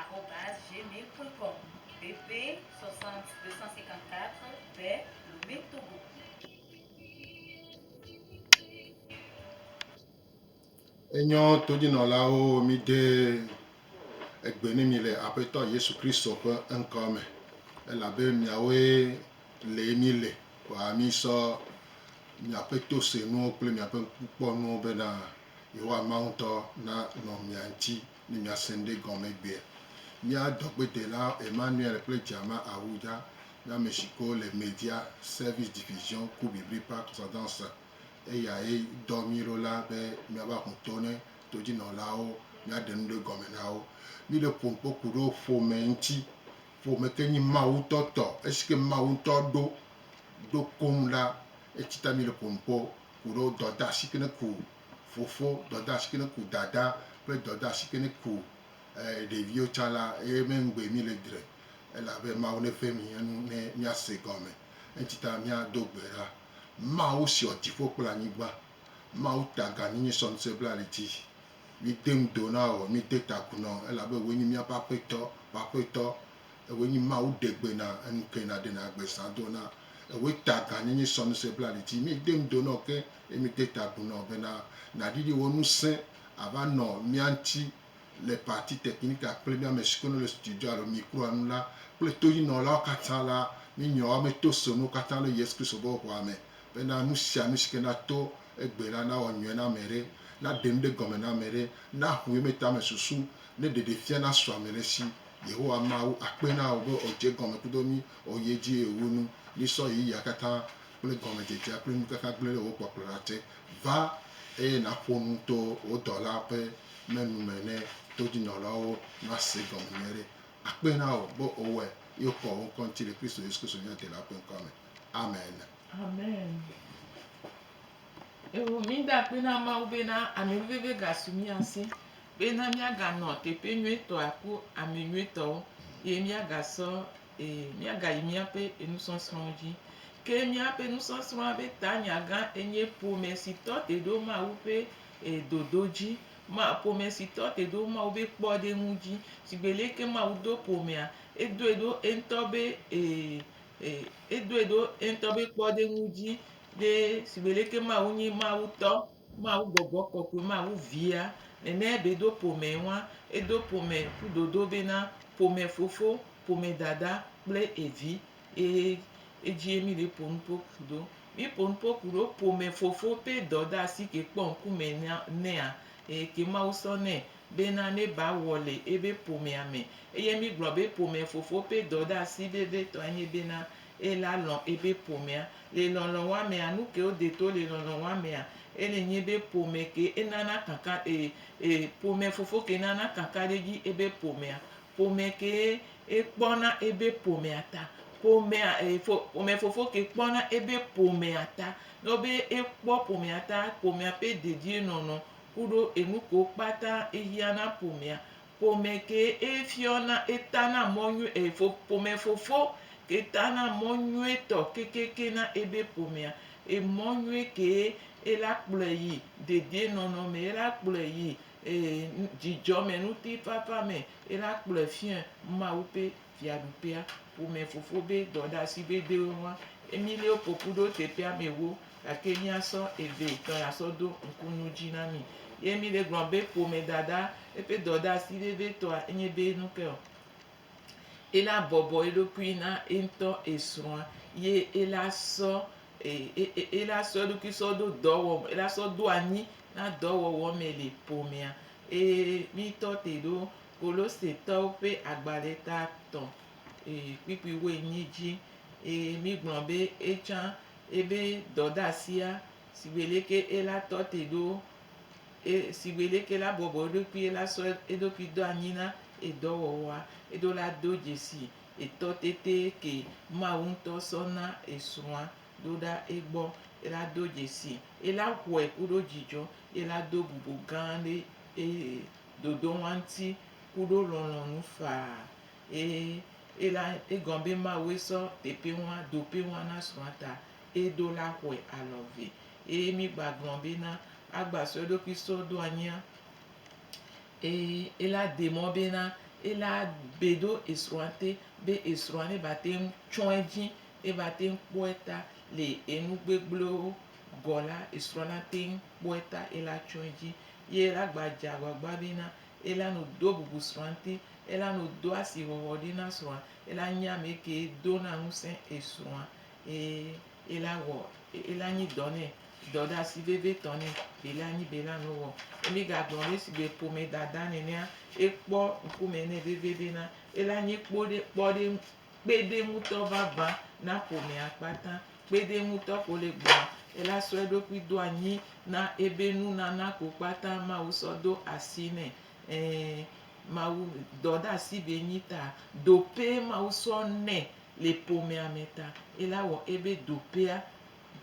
Arobase gmail point com BB 60 254 be Lomé Togo. Enyɔ todinɔlawo mi ɖe egbe ne mi le Aƒetɔ Yesu Kristo ƒe ŋkɔ me, elabe miawoe le mi le kɔa mi sɔ miaƒe tosenuwo kple miaƒe ŋkukpɔnuwo bena Yehowa Mawu ŋutɔ na nɔ mia ŋuti. Ne miase ŋɖe gɔme gbea, mía dɔgbedela Emmanuel kple Djama Ahuja nye ame si ke wole Media Service Division ku Bibri Park Zɔdɔnse. Eyae dɔ mí ɖo la be míava ƒo to ne todzinɔlawo, míaɖe nu ɖe gɔme na wo. Míle ƒom kpɔ ku ɖo ƒome ŋuti. Ƒome ke nyi Mawu ŋutɔ tɔ. Esi ke Mawu ŋutɔ ɖo ɖo koŋ la, etsi ta míle ƒom kpɔ ku ɖo dɔdeasi ke ne ku fofo dɔdeasi kene ku dada kple dɔdeasi kene ku ɖeviwo tsa la ye me ŋgbe mi le dre elabe Mawu ne ƒe mi enu ne mia se gɔme enti ta mia do gbe ɖa Mawu siɔ dziƒo kple anyigba Mawu ta ga ni nye sɔ ŋse bla li dzi mi de ŋu do na wɔ mi de ta gu nɔ elabe woe nyi mia ƒe aƒetɔ ƒe aƒetɔ ewoe nyi Mawu ɖe gbe na enu ke na ɖe na gbe sa do na ewoe ta ga ni nye sɔ ŋse bla li dzi mi de ŋu do nɔ ke Ye mede ta agu nɔ bena, Nàɖiɖi wò ŋusẽ ava nɔ mía ŋuti le parti technique-a kple mía ame siwo ke le studio alo micro-a ŋu la kple toyinɔlawo katã la. Mí nyawoa me to se nuwo katã le Yesu Kristo ƒe ʋɔa me bena, Nu sia nu si ke nato egbe la nawɔ nyuie na ame aɖe, naɖe nu ɖe gɔme na ame aɖe, naho ye me tame susu, ne ɖeɖefia nasu ame ɖe si. Yehowa Mawu akpe na wò be wòdze egɔme kudo mí, wòyi edzi eye wòwu nu mí sɔ ɣeyiɣia katã kple gɔmedzedzea kple nukaka gblẽ ɖe wò kpɔkplɔ la te. Va, eye nàƒo nu to wò dɔlaa ƒe me nu me ne todinɔlawo nase gɔme nyuiɖe. Akpee na wò be wòwɔe, eye wokɔ wò ŋkɔ ŋuti le Kristo Yesu Kristo mía Delaa ƒe ŋkɔa me. Amen. Amen. Eho mí da akpe na Mawu bena ameveve gasu mía si bena míaganɔ teƒe nyuietɔa ku ame nyuietɔwo, eye míagasɔ Ee, míagayi míaƒe enusɔsrɔ̃wo dzi. Ke míaƒe enusɔsrɔ̃a ƒe tanyagã enye Ƒome si tɔ te ɖo Mawu ƒe dodo dzi. Ma, ƒome si tɔ te ɖo Mawu ƒe kpɔɖeŋu dzi. Shigbe leke Mawu do ƒomea, edoe ɖo eŋutɔ be, ee, edoe ɖo eŋutɔ be kpɔɖeŋu dzi. Ɖe shigbe leke Mawu nye Mawu tɔ, Mawu gbɔgbɔ kɔkɔe, Mawu via, nene be ɖo ƒomee ŋua, edo ƒome ƒu dodo bena ƒome fofo. Ƒome dada kple evi eye edzie mi le ƒo nuƒo ku ɖo. Mi ƒo nuƒo ku ɖo ƒome fofo ƒe dɔdeasi ke kpɔ ŋkume nɛa eye ke Mawu sɔ nɛ bena ne ba wɔ le ebe ƒomea me. Eye mi gblɔ be ƒome fofo ƒe dɔdeasi vevitɔe nye bena ela lɔ̃ ebe ƒomea. Le lɔlɔ̃ wa mea, nuke wo de to le lɔlɔ̃ wa mea? Ele nye be ƒome ke enana kaka e e ƒome fofo ke nana kakaɖedzi ebe ƒomea. Ƒome kee ekpɔ na ebe ƒomea ta. Ƒomea e fo ƒomefofo ke kpɔ na ebe ƒomea ta. Ne wɔ be ekpɔ ƒomea ta, ƒomea ƒe dedienɔnɔ kuɖo enu kewo kpata ehiã na ƒomea. Ƒome kee efiɔ na eta na mɔ nyui e fo ƒomefofo ke ta na mɔ nyuitɔ kekeake na ebe ƒomea. Emɔ nyui kee ela kplɔe yi dedienɔnɔ me, ela kplɔe yi Ee, dzidzɔ me ŋutifafa me ye la kplɔe fiae Mawu ƒe Fiaɖuƒea ƒome fofo be dɔɖeasi veviwo hã. Emilio ƒo ƒu ɖo teƒea me wo, gake míasɔ eve etɔ̃ ya sɔ do ŋku nu dzi na mi. Ye Emilio gblɔ be ƒomedada eƒe dɔɖeasi vevitɔa enye be nu kae? ela bɔbɔ eɖokui na eŋutɔ esrɔ̃a ye ela sɔ e e e ela sɔ eɖokui sɔ ɖo dɔwɔm ela sɔ ɖo anyi na dɔwɔwɔ me le ƒomea eye mítɔ te ɖo Kolosetɔwo ƒe agbalẽ ta tɔ̃ e kpukpui wuienyi dzi eye mígblɔ be etsã ebe dɔdeasia si be leke ela tɔ te ɖo E, si gbeɖeke la, bɔbɔ eɖokui ye la sɔ eɖokui do anyi na edɔwɔwɔa, eɖo la do dzesi etɔ tete ke Mawu ŋutɔ sɔ na esrɔ̃a ɖo ɖa egbɔ, ye la do dzesi ye la xɔe kuɖo dzidzɔ, ye la do bubu gã ɖe eye dodoŋua ŋuti kuɖo lɔlɔ̃nu faa. E, ye la egɔme be Mawue sɔ teƒeŋua doƒeŋua na srɔ̃a ta, eɖo la xɔe alɔ̃ vɛ. eye mi gba glɔn be na agba sɔ eɖokui sɔ do anyia eye ela de mɔ be na ela be ɖo esrɔa te be esrɔa ne ba te ŋu tsɔ edzi eba te ŋu kpɔe ta le enu gbegblẽwo gɔ la esrɔa na te ŋu kpɔe ta ela tsɔ edzi ye la gba dze agbagba be na ela no do bubu srɔa ŋuti ela no do asi hɔhɔ ɖi na srɔa ela nye ame ke do na ŋusẽ esrɔa eye Ela wɔ, ela nyi dɔ nɛ, dɔɖasi vevitɔ nɛ, ela nyi be ela nu wɔ. Emi ga gblɔ be sigbe ƒome dada nenea, ekpɔ ŋkume nɛ vevie be na, ela nyi kpo ɖe, kpɔ ɖe, kpeɖe ŋutɔ vava na ƒomea kpata. Kpeɖe ŋutɔ ko le gbɔa, ela sɔ eɖokui do anyi na ebe nu nana ko kpata Mawu sɔ do asi nɛ. Ɛɛ, Mawu, dɔɖasi be nyi ta, dope Mawu sɔ nɛ Le ƒomea me ta, ela wɔ ebe dopeɛ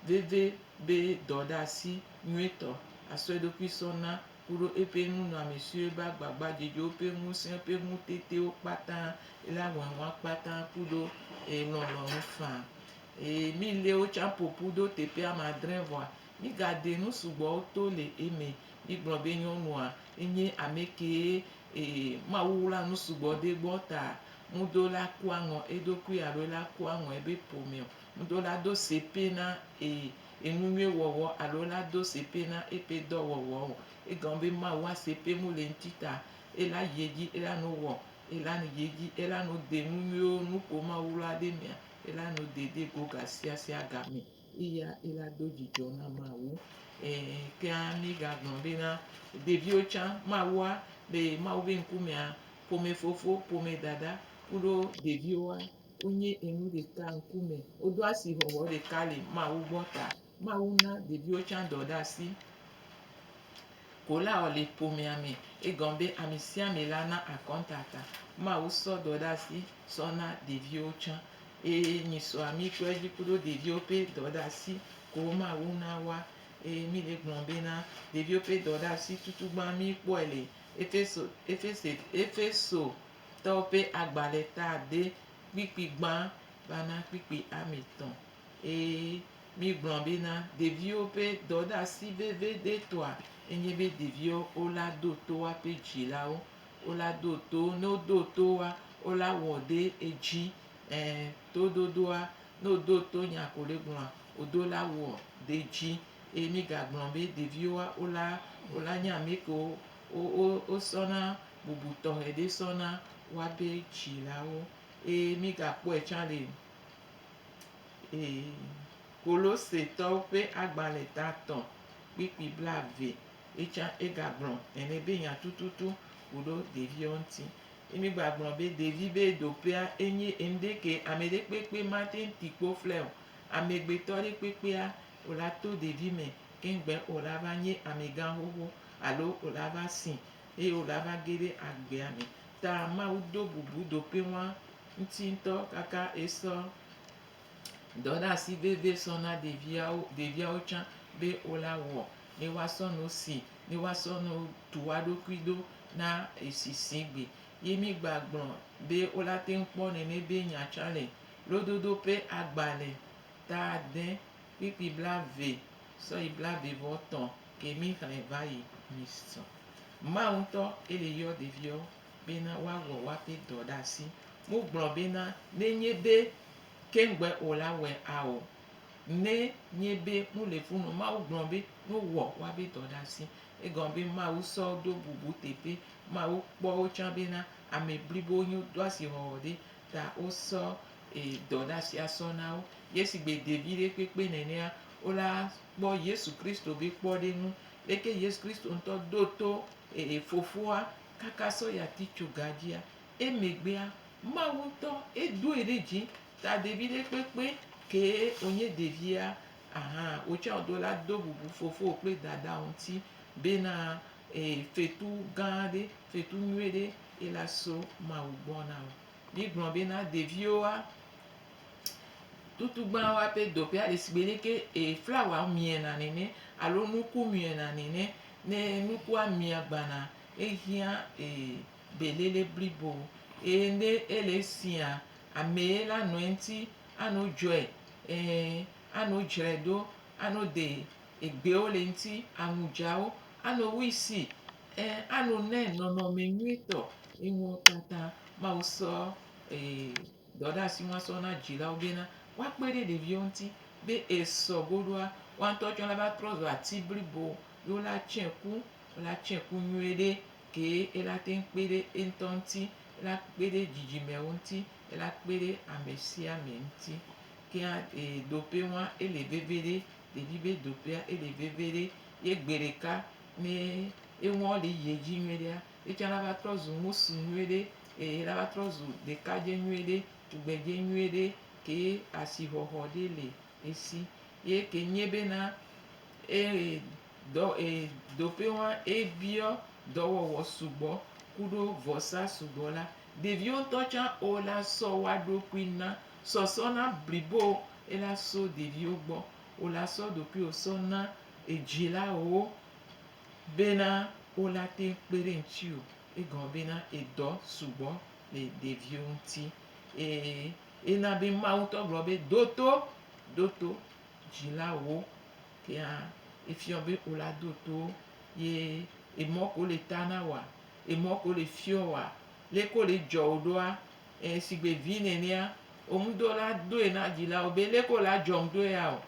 veve be dɔɖeasi nyuitɔ asɔ eɖokui sɔ na kuɖo eƒe nunɔamesiwo ebe agbagba dzedzewo ƒe ŋusẽ ƒe ŋutetewo kpata, ela wɔ eŋua kpata kuɖo eye lɔlɔnu faa. Eye mi lewo tsã ƒoƒu ɖo teƒe ame adre vɔa, mi ga de nu sugbɔwo to le eme. Mi gblɔ be nyɔnua enye amekee eye Mawu wla nu sugbɔ ɖe egbɔ ta Ŋudo la ku aŋɔ eɖokui alo ela ku aŋɔ ebe ƒomɛ o. Ŋudo la do sepe na e enunyuie wɔwɔ alo ela do sepe na eƒe dɔ wɔwɔ o. Egɔme be Mawu wa sepe ŋu le ŋti ta ela yi edzi ela nu wɔ ela yi edzi ela nu de enunyuiwo nuƒo Mawu lɔ aɖe mea ela nu de de go gasiasia gamɛ. Eya ila do dzidzɔ na Mawu. Ɛɛ, kea míegagblɔ be na ɖeviwo tsã Mawua le Mawu be ŋkumea, ƒomefofo, ƒomedada kuɖo ɖeviwoa, wonye enu ɖeka ŋkume. Wodo asixɔxɔ ɖeka le Mawu gbɔ ta. Mawu na ɖeviwo tsã dɔ ɖe asi. Kolaɔ le ƒomea mɛ. Egɔn be amɛsiamɛ la na akɔntata. Mawu sɔ dɔ ɖe asi sɔ na ɖeviwo tsã. Eye mi so ami kpɔɛ dzi kuɖo ɖeviwo ƒe dɔ ɖe asi kewo Mawu na woa. Eye mi le gblɔ be na ɖeviwo ƒe dɔ ɖe asi tutugbã mi kpɔɛ le Efeso, Efese, Efeso tɔwo ƒe agbalẽ ta ade kpikpi gbã va na kpikpi amɛ tɔ̃. Eye. Mígblɔ bena ɖeviwo ƒe dɔɖeasi veviɖetɔa enye be ɖeviwo wola ɖo to woaƒe dzilawo, wola ɖo to wo, ne woɖo to woa, wola wɔ ɖe edzi, ẽ, toɖoɖoa, ne woɖo to nya ko ɖe gblɔa, woɖo la wɔ ɖe edzi. Eye mígagblɔ be ɖeviwoa, wola, wola nye ame kewo wo, wo, wosɔna bubu tɔxɛ ɖe sɔ na woaƒe dzilawo. Eye mígakpɔe tsã le Ee, Kolosetɔwo ƒe agbalẽ ta atɔ̃ kpukpui blaeve ye tsã egagblɔ ene be nya tututu ku ɖo ɖeviwo ŋuti. Ye mi gba gblɔ be ɖevi be ɖoƒea enye enuɖe ke ame ɖe kpekpe mate ŋu ti kpo ƒlɛ o. Amegbetɔ ɖe kpekpea o la to ɖevi me ke ŋugbe o la va nye amegã xoxo alo o la va si eye wògava ge ɖe agbea me ta Mawu do bubu ɖokuiŋua ŋuti ŋutɔ kaka esɔ dɔɖeasi vevie sɔ na ɖeviawo, ɖeviawo tsã be wola wɔ ne woasɔ nu si, ne woasɔ nu tu woa ɖokui ɖo na esisigbe. Ye mi gba gblɔ be wola teŋ kpɔ nene be nya tsã le lododo ƒe agbalẽ ta ade. Kpikpi blaeve sɔ yi blaeve vɔ tɔ ke mi xlẽ vayi mi sɔ. Mawu ŋutɔ ke le yɔ ɖeviwo be na wa wɔ wa ƒe dɔ ɖe asi. Mo gblɔ be na ne nye be ke ŋgbe o la wɛ a o. Ne nye be mo le fu nɔ Mawu gblɔ be no wɔ wa be dɔ ɖe asi. Egɔme be Mawu sɔ ɖo bubu teƒe. Mawu kpɔ wo tsã be na ame blibo nyo do asi hɔhɔ ɖe ta wosɔ e dɔ ɖe asi asɔ na wo. Ye sigbe de viɖe kpekpe nenea, wola kpɔ Yesu Kristo be kpɔɖeŋu. Leke Yesu Kristo ŋutɔ ɖo to e e Fofoa kaka sɔ yi ati tso ga dzia? Emegbea, Mawu ŋutɔ edoe ɖe dzi ta de viɖe kpekpe kee wonye ɖevia ahan. Wotsɔa wodo la do bubu fofowò kple dadao ŋuti bena Ee, fetu gã ɖe, fetu nyui ɖe ye la so Mawu gbɔ na wò. Mígblɔ bena ɖeviwoa, tutugbã woaƒe dɔƒea le sigbe leke flawa miena nene alo nuku miena nene. Ne nukua mia gbana, ehiã belele blibo eye ne ele siaa, amee la nɔ eŋuti ano dzɔe, ẽ, ano dzrae ɖo, ano de. Egbewo le ŋti anu djawo ano wui si e ano ne nɔnɔme nyui tɔ eŋuo tata mawu sɔ e dɔ ɖe asi ŋua sɔ na dzilawo bena woa kpe ɖe ɖeviwo ŋti be e sɔ goɖoa woa ŋtɔ tsɔ la va trɔ zu ati blibo ye wo la tsɛ ku wo la tsɛ ku nyuie ɖe kee e la teŋ kpe ɖe eŋtɔ ŋti e la kpe ɖe dzidzimewo ŋti e la kpe ɖe amesiame ŋti kea e dope ŋua e le veveɖe. Ɖevi be doƒea ele veve ɖe ye gbeɖeka me enuwo le yi dzi nyuie ɖea, etsã la va trɔ zu ŋutsu nyuie ɖe eye la va trɔ zu ɖekadze nyuie ɖe, tugbedze nyuie ɖe ke asixɔxɔ ɖe le esi. Ye ke nye be na e dɔ e doƒe wa ebiɔ dɔwɔwɔ sugbɔ kuɖo vɔsa sugbɔ la, ɖeviwo ŋutɔ tsã o la sɔ woaɖokui na. Sɔsɔ na blibo ye la so ɖeviwo gbɔ wo la sɔ ɖokuiwo sɔ na edzilawo bena wo la te kpe ɖe ŋutiwo egɔme bena edɔ sugbɔ le ɖeviwo ŋuti eye ena be Mawu ŋutɔ gblɔ be ɖo to ɖo to dzilawo kea efiɔ be wo la ɖo to wo ye emɔ ko le ta na woa emɔ ko le fiɔ woa leko le dzɔ wo ɖoa Ɛɛ, shigbe vi nɛnɛa, wò ŋdo la doe na dzilawo be, Leke wò la dzɔm do ya o,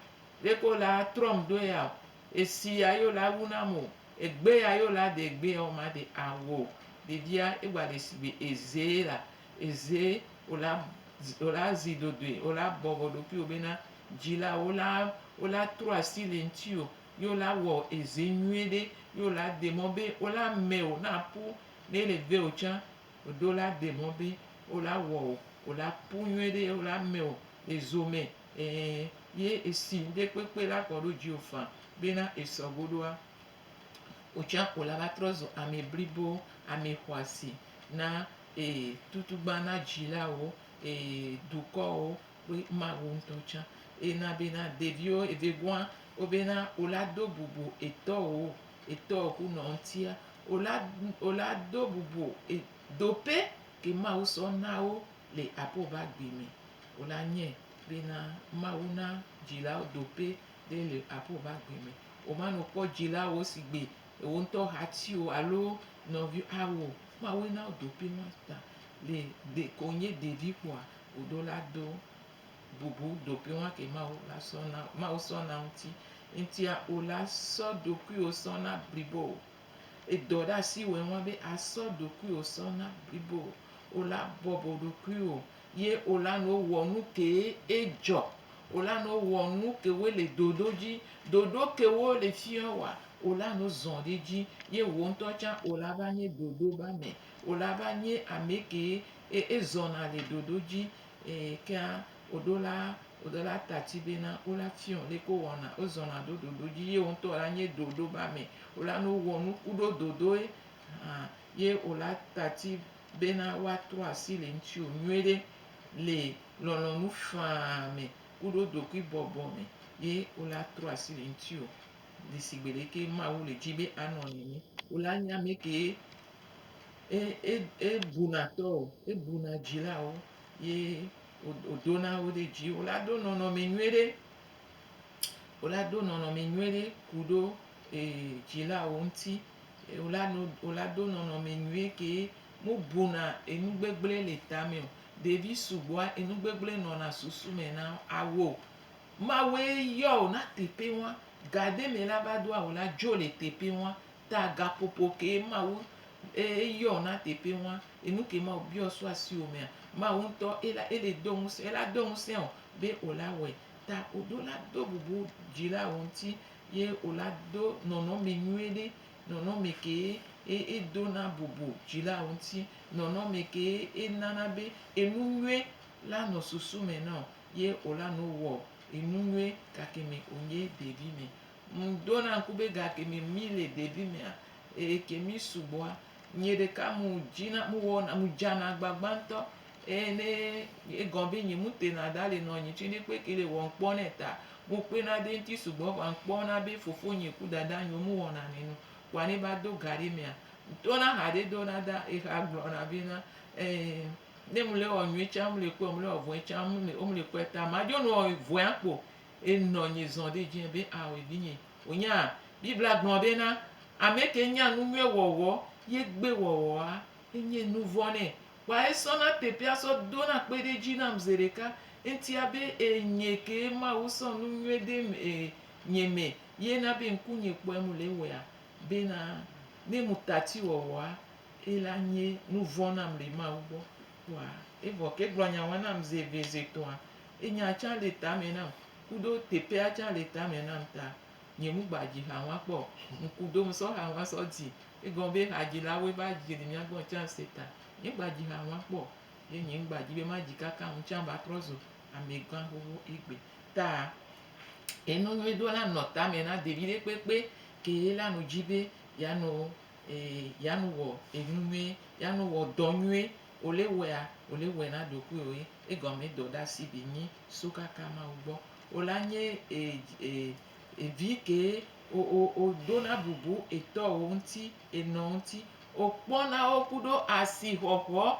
leke wò la trɔm do ya o, esi ya ye wò la wu nam o, egbe ya ye wò la de egbe ya wò ma de awu o. Ɖevia egba le shigbe eze ye la, eze wò la, wò la zi dodoe, wò la bɔbɔ ɖokui wò bena dzilawo wò la, wò la trɔ asi le ŋtsiwò ye wò la wɔ eze nyuiɖe ye wò la de mɔ be wò la mɛwò na ƒu ne ele vewò tsã Ɖo la de mɔ be wo la wɔ o, wo la pu nyuie ɖe wo la me o, e zo me, e ye e si ŋde kpekpe la kɔ ɖo djiwo fã be na e sɔ go ɖoa, wo tsã wo la va trɔ zo amɛ blibo, amɛ xoasi na e tutugban na djilawo, e dukɔwo kple Mawu ŋtɔ tsã. E na be na ɖeviwo e vɛ gua wo be na wo la do bubu e tɔwo Etɔ ku nɔ ŋtia ola ola do bubu e dope ke Mawu sɔ nawo le apo va gbe me ola nye be na Mawu na dzilawo dope ɖe le apo va gbe me. Oma no kpɔ dzila wo si gbe ewo ŋutɔ hati o alo nɔvi awo Mawu nawo dope ma ta le de konye ɖevi kpɔa oɖo la do. bubu ɖokuiwo ke Mawu la sɔ na Mawu sɔ na ŋuti ŋutia o la sɔ ɖokuiwo sɔ na blibo o. Edɔ ɖe asi wɔe ŋua be asɔ ɖokuiwo sɔ na blibo o la bɔbɔ ɖokuiwo ye o la no wɔ nu ke edzɔ o la no wɔ nu ke wo le ɖoɖo dzi ɖoɖo ke wo le fiɔ wa o la no zɔ ɖe dzi ye wo ŋutɔ tsã o la va nye ɖoɖo ba me o la va nye ame ke ezɔna le ɖoɖo dzi. Eye kea woɖo la woɖo la ta tsi be na wo la fiɔ le ko wɔna wo zɔna ɖo ɖoɖo dzi ye wo ŋutɔ la nye ɖoɖo ba me wo la no wɔ nuku ɖo dodoe hã ye wo la ta tsi be na wa trɔ asi le ŋuti wo nyuie ɖe le lɔlɔ nu faa me ku ɖo dokui bɔbɔ me ye wo la trɔ asi le ŋuti wo le sigbe le ke ma wu le dzi be a nɔ nene wo la nye ameke. ebuna tɔ o, ebuna dzilawo ye wodona wo ɖe dzi. Wo la do nɔnɔme nyui ɖe, wo la do nɔnɔme nyui ɖe ku ɖo dzilawo ŋuti. Wo la no, wo la do nɔnɔme nyui ke mu buna enu gbegble le tame o. Ɖevi sugbɔa enu gbegble nɔna susu me na wo. Awo Mawue yɔ wo na teƒe wa. Ga ɖe me la va ɖoa wo la dzo le teƒe wa. Ta gaƒoƒo kee Mawu eyɔ na teƒe ŋua? Enu kee Mawu biɔ so asiwò mea? Mawu ŋutɔ ela ele do ŋusẽ ela do ŋusẽ wò be wò la wɔe. Ta wò do la do bubu dzi la wò ŋuti ye wò la do nɔnɔme nyuie ɖe. Nɔnɔme kee e edo na bubu dzi la wò ŋuti. Nɔnɔme kee enana be enu nyuie la nɔ susu me na wò ye wò la nɔ wɔ enu nyuie gake me wònye ɖevi me. Ŋ ɖo na ŋku be ga ke me mi le ɖevi mea, eye ke mi sugbɔa, nye ɖeka mu dzi na mu wɔ na mu dza na gbagba ŋutɔ. Eye ne egɔ be nye mu te na da le nɔ nye tsi ne kpe ke le wɔ ŋkpɔ ne ta, mu kpe na de ŋuti sugbɔ vɔa ŋkpɔ na be fofo nye ku dada nye mu wɔ na ne nu. Kpɔa ne va do ga ɖe mea, to na ha ɖe do na da, eha gblɔ na be na, e ne mu le wɔ nyuie tsa mu le kpɔe, mu le wɔ vɔe tsa mu le kpɔe ta ma dzo nu wɔ vɔea kpo. Enɔ anyi zɔ ɖe edzi be, Ao, vinye, wò nya Biblia gblɔ be na ame ke nya nu nyui wɔwɔ ye gbe wɔwɔa enye nu vɔ̃ nɛ. Kpɔa esɔ na teƒea sɔ do na kpe ɖe edzi nam ze ɖeka ŋtia be e nye ke Mawu sɔ nu nyui de e nye me ye na be ŋku nye kpɔe mu le wɔea be na ne mu tati wɔwɔa e la nye nu vɔ̃ nam le Mawu gbɔ. Kpɔa evɔ ke gblɔ nya wa nam ze eve ze tɔa Enya tsã le tame nam kuɖo teƒea tsã le tame nam ta nye mu gba dzi ha ŋua kpɔ o. Ŋku ɖom sɔ ha ŋua sɔ dzi. Egɔme be hadzilawoe va dzi le mía gbɔ tsã se ta. Nye gba dzi ha ŋua kpɔ o. Ye nye ŋgba dzi be madzi kaka ŋu tsã va trɔ zu amegã xoxo egbe. Ta enu nyui ɖo la nɔ tame na ɖevi ɖe kpekpe ke ye la nu dzi be ya nu e ya nu wɔ enu nyui ya nu wɔ dɔ nyui O le wɛa, o le wɛ na ɖokuiwo ye, egɔme dɔ ɖa si bi nyi so kaka Mawu gbɔ. O la nye e, e, e vi ke o, o, o ɖo na bubu etɔwo ŋuti, enɔ ŋuti. O kpɔ na wo ku ɖo asi xɔxɔ.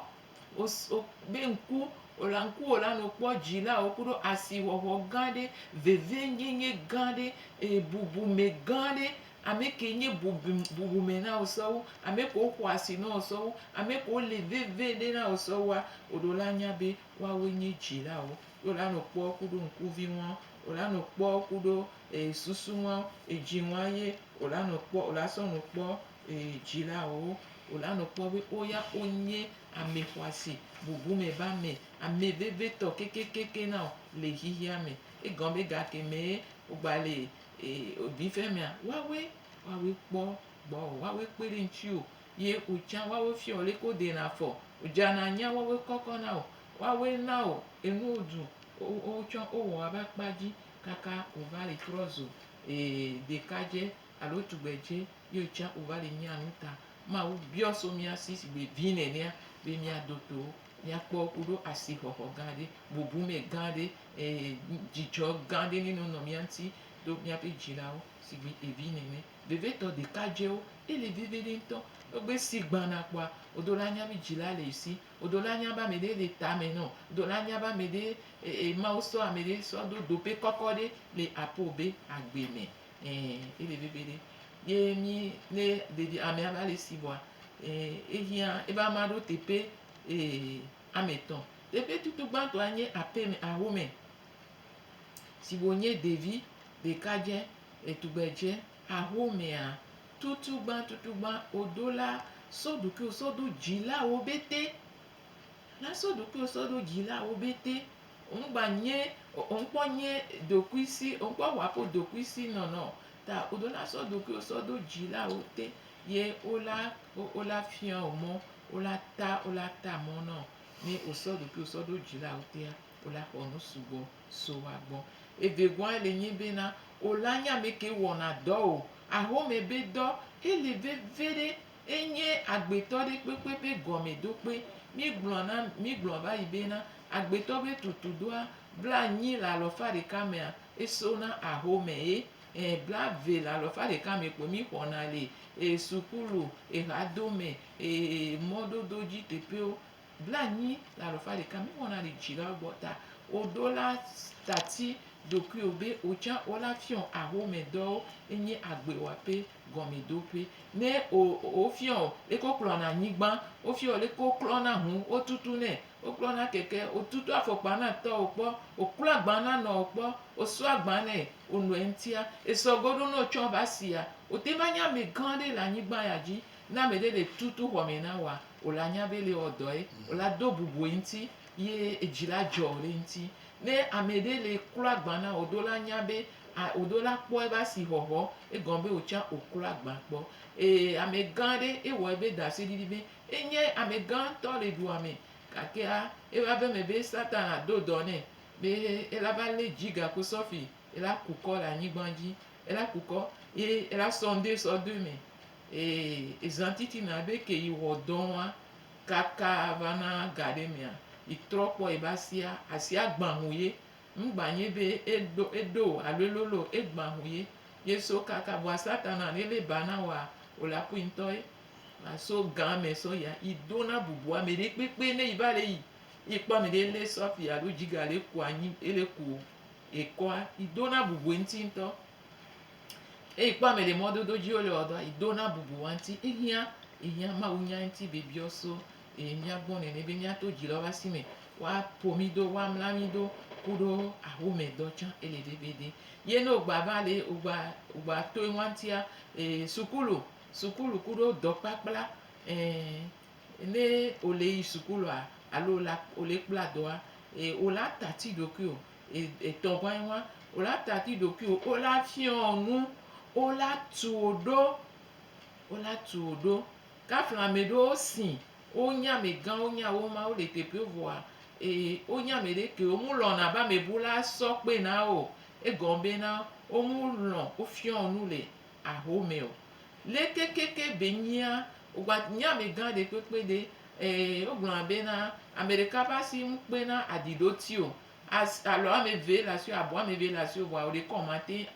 O, o be ŋku, o la ŋku o la no kpɔ dzi la wo ku ɖo asi xɔxɔ gã ɖe, veve nyenye gã ɖe, e bubu me gã ɖe Ame kee nye bubu, bubume na wò sewo, ame kee woƒo asi na wò sewo, ame kee woli vevie ɖe na wò sewoa, woɖo la nya be woawoe nye dzilawo. Ye wola nɔ kpɔ ku ɖo ŋkuvi ŋua, wola nɔ kpɔ ku ɖo e susu ŋua, edzi ŋua ye wola nɔ kpɔ, wola sɔ nɔ kpɔ e dzilawo. Wola nɔ kpɔ be woya wonye ame xɔasi, bubume ba me, ame vevie tɔ kekekeke na wò le xexeame. Egɔ be gakemɛ wogba le Ee, wòbi fia mea, woawoe, woawoe kpɔ gbɔ o, woawoe kpe ɖe ŋuti o. Ye wò tsã woawoe fia wò leke wodena afɔ o. Wòdzana anyia woawoe kɔkɔ na wò. Woawoe na wò enuwo ɖu. Wowo tsã wowɔ wò ava kpa dzi kaka wòva le trɔ zu, ee, ɖekadze alo tugbedze ye wò tsã wòva le nyia nu ta. Mawu biɔ so mía si sigbe vi nenea be míado to wo. Míakpɔ ku ɖo asixɔxɔ gã ɖe, bubu mɛ gã ɖe, eye dzidzɔ gã ɖe ni nɔnɔ mía ŋuti ɖo míaƒe dzilawo sigbe evi nene. Vevitɔ ɖekadzewo, ele vivi ɖi ŋutɔ. Egbe si gbana kpɔa, wodo la nya be dzila le esi. Wodo la nya be ame ɖe le tame nɔ. Wodo la nya be ame ɖe, e, e, Mawu sɔ ame ɖe sɔ do dope kɔkɔ ɖe le aƒewo be agbe mɛ. Ɛɛ, ye veve gbeɖe. Ye mí ne ɖevi amea va le si vɔa, ɛɛ, ehiã ebe amea ɖo teƒe, ɛɛ, ame etɔ̃. Teƒe tutu gbãtɔa nye aƒeme, ahome si wònye ɖevi ɖekadzɛ, etugbedzɛ. Ahomea, tutugbã tutugbã wòdo la, sɔ ɖokuiwò sɔ do dzilawo ƒete. Nasɔ ɖokui sɔ ɖo dzilawo bete ŋgba nyɛ o ŋkpɔ nyɛ ɖokui si ŋkpɔ ŋaƒo ɖokui si nɔnɔ ta o ɖo nasɔ ɖokui sɔ ɖo dzilawo te ye o la o la fiɔ o mɔ o la ta o la ta mɔ nɔ ne o sɔ ɖokui sɔ ɖo dzilawo tea o la xɔ nu sugbɔ so wa gbɔ. Evegɔa le nyɛ be na o la nya mɛ ke wɔna dɔ o ahomɛ be dɔ ele veveɖe Enye agbetɔ ɖe kpekpe ƒe gɔmedokpe. Míegblɔ na, míegblɔ va yi be na, agbetɔ ƒe tutudoa, blanyi le alɔfa ɖeka mea, eso na ahome ye. Ẽ, blave le alɔfa ɖeka me kpo mí xɔna le e sukulu, eɣadome, e mɔdodo dzi teƒewo. Blaenyi le alafa ɖeka mi wɔna ɖi dzi la gbɔ ta o ɖo la tati ɖokuiwo be o tsã o la fiɔ axome dɔwo enyi agbe wɔaƒe gɔme ɖoƒe. Ne o o fiɔ o leke o klɔna anyigba, o fiɔ o leke o klɔna ŋu o tutu nɛ, o klɔna keke, o tutu afɔkpa na tɔwo kpɔ, o klɔ agba na nɔwo kpɔ, o sɔ agba nɛ o nɔɛ ŋtia, esɔ goɖo nɔ tsɔ va sia, o te va nye ame gã ɖe le anyigba ya dzi. Ne ame ɖe ɖe tutu xɔ me na wòa, wò la nya be le wɔ dɔe, wò la do bubu eŋuti ye edzi la dzɔ le eŋuti. Ne ame ɖe le klo agba na wò, ɖo la nya be a ɖo la kpɔ eƒe asixɔxɔ, egɔme be wò tsã wò klo agba kpɔ. Ee, amegã aɖe ewɔ eƒe ɖaseɖiɖi be enye amegã ŋutɔ le dua me, gakea eƒe aƒe me be Satana do dɔ nɛ be ela va lé dzi gaku sɔfi ela ku kɔ le anyigba dzi, ela ku kɔ ye ela sɔ ŋɖe sɔ do eme. Ee, ezan titina be ke yi wɔ dɔn wa kaka va na ga ɖe mea, yi trɔ kpɔ yi be asia, asia gban ŋu ye. Ŋgban nye be e ɖo, e ɖo o alo e lolo o, e gban ŋu ye. Ye so kaka vɔa Satana ne le ba na wa, o la kui ŋtɔ ye. A so gan me sɔ yia, yi do na bubu ameɖe kpekpe ne yi va le yi, yi kpɔ ameɖe ele sɔfi alo djiga le ku anyi, ele ku ekɔa, yi do na bubu eŋti ŋtɔ. Eyi kpɔ ame ɖe mɔdodo dzi wole wɔ dɔa, yi do na bubu wa ŋuti. Ehiã, ehiã Mawu nya ŋuti bibiɔ so e mía gbɔ nɛnɛ be míato dzi lɔ va si me wa po mí do, wa mla mí do kuɖo axome dɔ tsã e le ɖe be ɖe. Ye ne wogba va le wogba wogba to eŋua ŋutia e sukulu sukulu kuɖo dɔkplakpla e ne wole yi sukulua alo wole kpla dɔa e wola ta ti ɖokui o. etɔ ʋã ʋã o la tati ɖokuiwo o la fiɔ nu o la tuo ɖo o la tuo ɖo kafla ameɖewo si o nya amegã o nya wo ma o le teƒewo vɔa ee o nya ameɖe ke o mu lɔna be amebu la sɔ kpe na o egɔme be na o mu lɔ o fiɔ nu le ahomɛ o. Lé kekeké be nyia wogba nye amegã ɖekpekpe ɖe, ee, wogblɔna bena, ameɖeka ƒe asi ŋu kpena aɖi ɖe oti o. As, alɔ ameve le asiwò, abɔ ameve le asiwò vɔa woɖekɔ mate,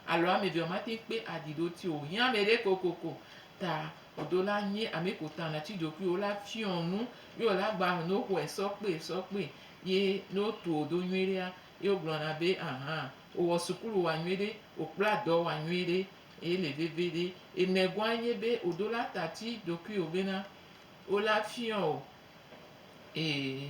alɔ amevea mate kpe aɖi ɖe oti o. Hiã ameɖe kokoko ta o ɖo la nye ameko ta natsi ɖokui o la fiɔ nu ye wola gba nɔ xɔɛ sɔkpe sɔkpe ye ne wotuo ɖo nyuiɖea, Ye wogblɔna be, Ahã, wòwɔ sukulu wa nyuiɖe, wòkpla dɔ wa nyuiɖe, ele veviɖe. Emegɔa nye be wòɖo la tati ɖokuiwò bena wola fiɔ wò ee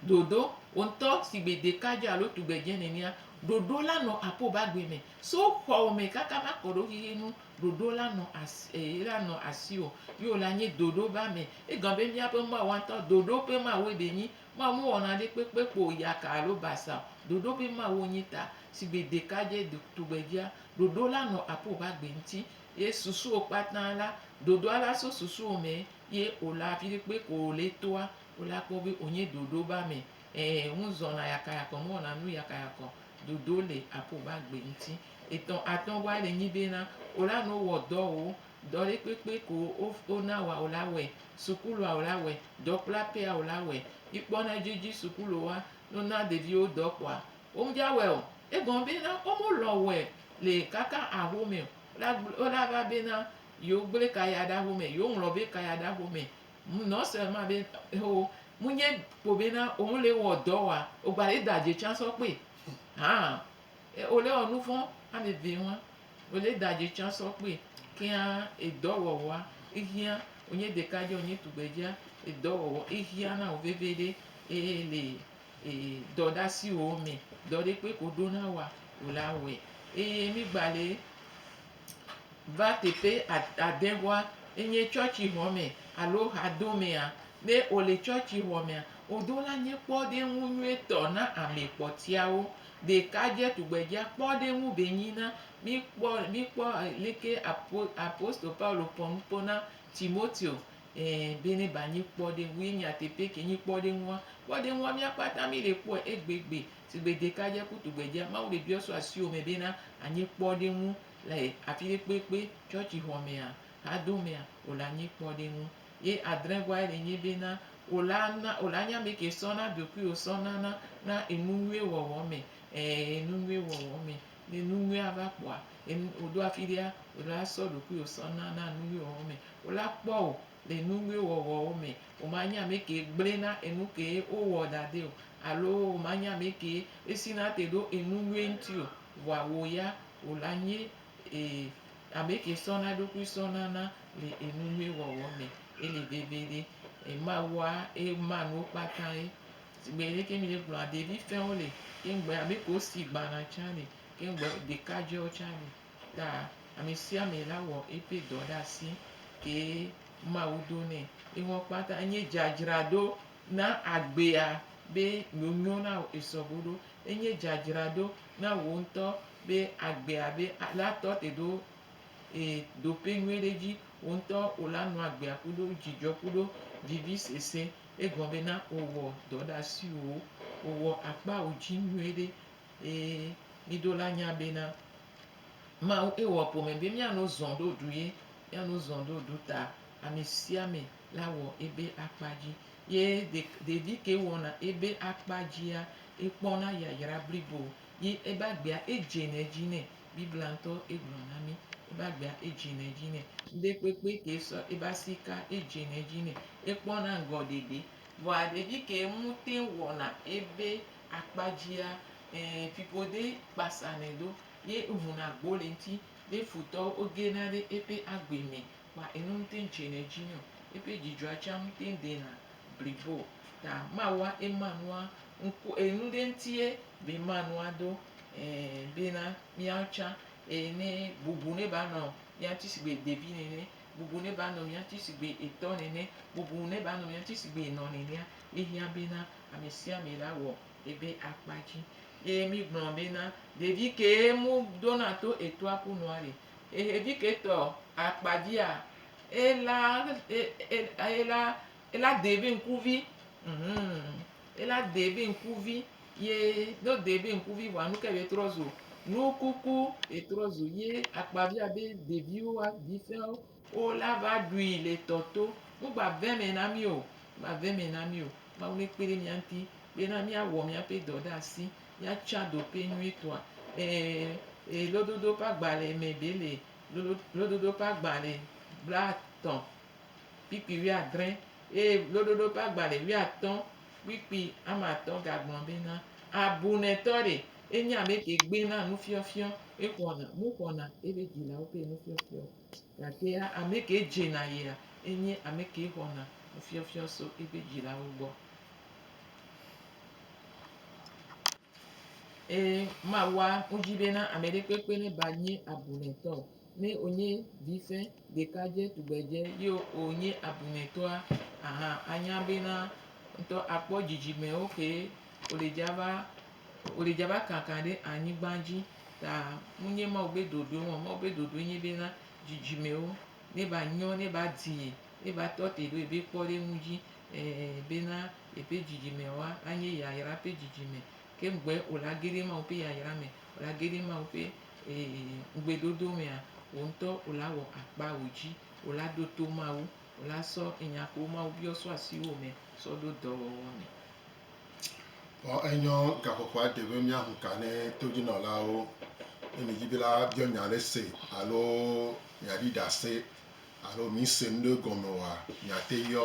ɖoɖo wò ŋutɔ sigbe ɖekadze alo tugbedze nenea, ɖoɖo la nɔ aƒo ba gbe me. So xɔwò me kaka va kɔ ɖo xixi nu, ɖoɖo la nɔ asi ee la nɔ asiwò. Ye wòla nye ɖoɖo ba me. Egɔme be míaƒe Mawu ŋutɔ, ɖoɖo ƒe Mawue ɖe nyi Mawu mewɔ nanekpekpe kpɔ o, yaka alo basa o, ɖoɖo be Mawu wonyi ta. Sigbe ɖekadze tugbedzea, ɖoɖo la nɔ aƒo ƒe agbe ŋuti, ye susuwo kpata la, ɖoɖoa la so susuwo me ye wòla afi ɖe kpe ko wòle toa, wola kpɔ be wònye ɖoɖo be ame. Ẽ, ŋu zɔna yakayakɔ, mewɔna nu yakayakɔ o. Ɖoɖo le aƒo ƒe agbe ŋuti. Etɔ̃, atɔ̃goa le nyi be na wòla nuwo wɔ dɔwo. Dɔ ɖe kpekpe ko wona wòa wò la wɔe, sukulua wò la wɔe, dɔkplakpea wò la wɔe. Mikpɔ ne edzi sukulu wa no na ɖeviwo dɔ kpɔa, wo me dza wɔe o. Egɔme be na wo me lɔ̃ wɔe le kaka aho me o. Wola gble, wola va be na yewo gble kaya ɖe aho me, yewo ŋlɔ be kaya ɖe aho me. Nɔ se ma be ho mu nye kpo be na wo me le wɔ dɔ wɔa, wo gba le da dze tsã sɔ kpɔe hã. E o le wɔ nuvɔn ameve ŋua, o le da dze tsan sɔ kpui keŋa edɔ wɔwɔa ehiã wonye ɖeka dze wonye tugbedzea edɔ wɔwɔ ehiã na wo veve ɖe eye le e dɔ ɖe asi wo me dɔ ɖe kpe ko ɖo na wa o la wɔe eye mi gba le va teƒe ade ŋua enye tsɔtsi xɔ me alo ha do mea ne o le tsɔtsi xɔ mea o do la nye kpɔ ɖe ŋu nyuie tɔ na ame kpɔtiawo Ɖekadze tugbedzea kpɔ ɖe eŋu be nyi na míkpɔ míkpɔ leke apo apostolo Paulo pɔ nu kpɔ na Timoteo e be ne ba nyi kpɔɖeŋu ye nyateƒe ke nyi kpɔɖeŋua. Kpɔɖeŋua mía kpata mí le kpɔe egbegbe sigbe ɖekadze ku tugbedzea Mawu le biɔ so asiwò me be na anyi kpɔɖeŋu le afi ɖe kpekpe, tsɔtsixɔmea, hadomea o la nyi kpɔɖeŋu. Ye adrẽ gɔa ɖe nye be na o la na o la nye ame ke sɔ na ɖokui o sɔ na na na enu nyuie wɔwɔ me e enu nyuie wɔwɔ me. Ne nu nyuie a va kpɔa enu o ɖo afi ɖea o la sɔ ɖokui o sɔ na na nu nyuie wɔwɔ me. O la kpɔ o le nu nyuie wɔwɔ o me. O ma nye ame ke gblẽ na enu ke o wɔ ɖa ɖe o alo o ma nye ame ke esi na te ɖo enu nyuie ŋuti o. Vɔa wò ya o la nye e Ameke sɔna eɖokui sɔna na le enunyui wɔwɔ me ele veviɖe e mawua e ma nuwo kpata ye sigbe leke mi le gblɔa ɖevi fɛwo le ke ŋgbe amekewo si gbana tsa le ke ŋgbe ɖekadzɛwo tsa le ta amesiame la wɔ eƒe dɔ ɖe asi kee mawu do nɛ enuwo kpata enye dzadzraɖo na agbea be nonyo nao esɔgoɖo enye dzadzraɖo na wò ŋtɔ be agbea be la tɔ te ɖo e ɖoƒe nyuie ɖe dzi, wò ŋutɔ wò la nɔ agbea kuɖo dzidzɔ kuɖo vivi sese. Egɔme be na wò wɔ dɔ ɖe asiwò, wò wɔ akpa wò dzi nyuie ɖe. E mi ɖo la nya be na Mawu e wɔ ƒome be mia no zɔn ɖo ɖu ye, mia no zɔn ɖo ɖu ta ame sia ame la wɔ ebe akpa dzi. Ye ɖe ɖevi ke wɔna ebe akpa dzia, ekpɔna yayra blibo. Ye ebe agbea edze le edzi nɛ. Biblia ŋutɔ egblɔ na mí. Ebe agbea edze le edzi nɛ. Ŋɖe kpekpe ke sɔ ebe asi ka edze le edzi nɛ. Ekpɔna ŋgɔ ɖeɖe. Vɔa ɖevi ke ŋutɛ wɔna ebe akpa dzia, ẽ, fiƒode kpasanɛ ɖo. Ye ehuna gbo le eŋuti. Ye futɔwo wogena ɖe eƒe agbe me. Ma eno ŋtɛn tsenɛ dzi nɛ o. Eƒe dzidzɔa tsã ŋtɛn dena blibo o. Ta mawa ema nua ŋku e nu ɖe ŋtie be ma nua do e bena miawo tsã e ne bubu ne ba nɔ mia ŋti sigbe ɖevi nene, bubu ne ba nɔ mia ŋti sigbe etɔ nene, bubu ne ba nɔ mia ŋti sigbe enɔ nenea, ehiã bena amesiame la wɔ ebe akpa dzi. Ye mi gblɔ bena, ɖevi kee mu ɖona to etɔa ƒu nua ɖe? Eheviketɔ akpa dzia, ela ela ela dee be ŋkuvi. Hum ela dee be ŋkuvi ye ne wodee be ŋkuvi vɔa nu kae be trɔ zu? Nukuku ye trɔ zu ye akpavia be ɖeviwo hafi sẽwo wova va ɖui le tɔ to. Nugbave me na mí o. Nugbave me na mí o. Mawu nekpe ɖe mía ŋuti bena míawɔ míaƒe dɔ ɖe asi. Míatsɔa ɖoɖoe nyuitɔa? Ɛ̃, ɛ̃, lododo ƒe agbalẽ me ɖee le. Lododo ƒe agbalẽ blaetɔ̃ kple kpui wuiadre eye lododo ƒe agbalẽ wuiatɔ̃ kple kpui ame atɔ̃ gagblɔ bena, Abunɛtɔ ɖe, enye ame ke gbena nufiɔfiɔ, exɔna nu xɔna eƒe dzilawo ƒe nufiɔfiɔ o, gake ame ke dzena yia, enye ame ke xɔna nufiɔfiɔ tso eƒe dzilawo gbɔ. Ee, mawɔa wodzi be na ame ɖe kpekpe ne ba nye abunɛtɔ o. Ne wònye vize, ɖekadze, tugbedze ye wònye abunɛtɔa, aha anya bena ŋutɔ akpɔ dzidzimewo kee wòle dza va, wòle dza va kaka ɖe anyigba dzi. Ta wonye Mawu be ɖoɖoe wɔm. Mawu be ɖoɖoe nye bena dzidzimewo neva nyo, neva dii, neva tɔ te ɖe wòava kpɔ ɖe eŋu dzi ɛɛ bena. Yeƒe dzidzimewo anye yayra ƒe dzidzime, ke ŋugbe wòle ageri Mawu ƒe yayra me, wòle ageri Mawu ƒe ŋugbedodo mea, wò ŋutɔ wòle awɔ akpa wò dzi, wòle aɖo to Mawu, wòle asɔ enya kewo Mawu biɔ sɔ asiwò me sɔ ɖo dɔwɔwɔ me. Vɔ enyɔ gaƒoƒoa de be míahu ka ne todzinɔlawo. Ne mìdi be la biɔ nya aɖe se alo mìaɖi ɖase alo mìse nu ɖe gɔme oa, mìate yɔ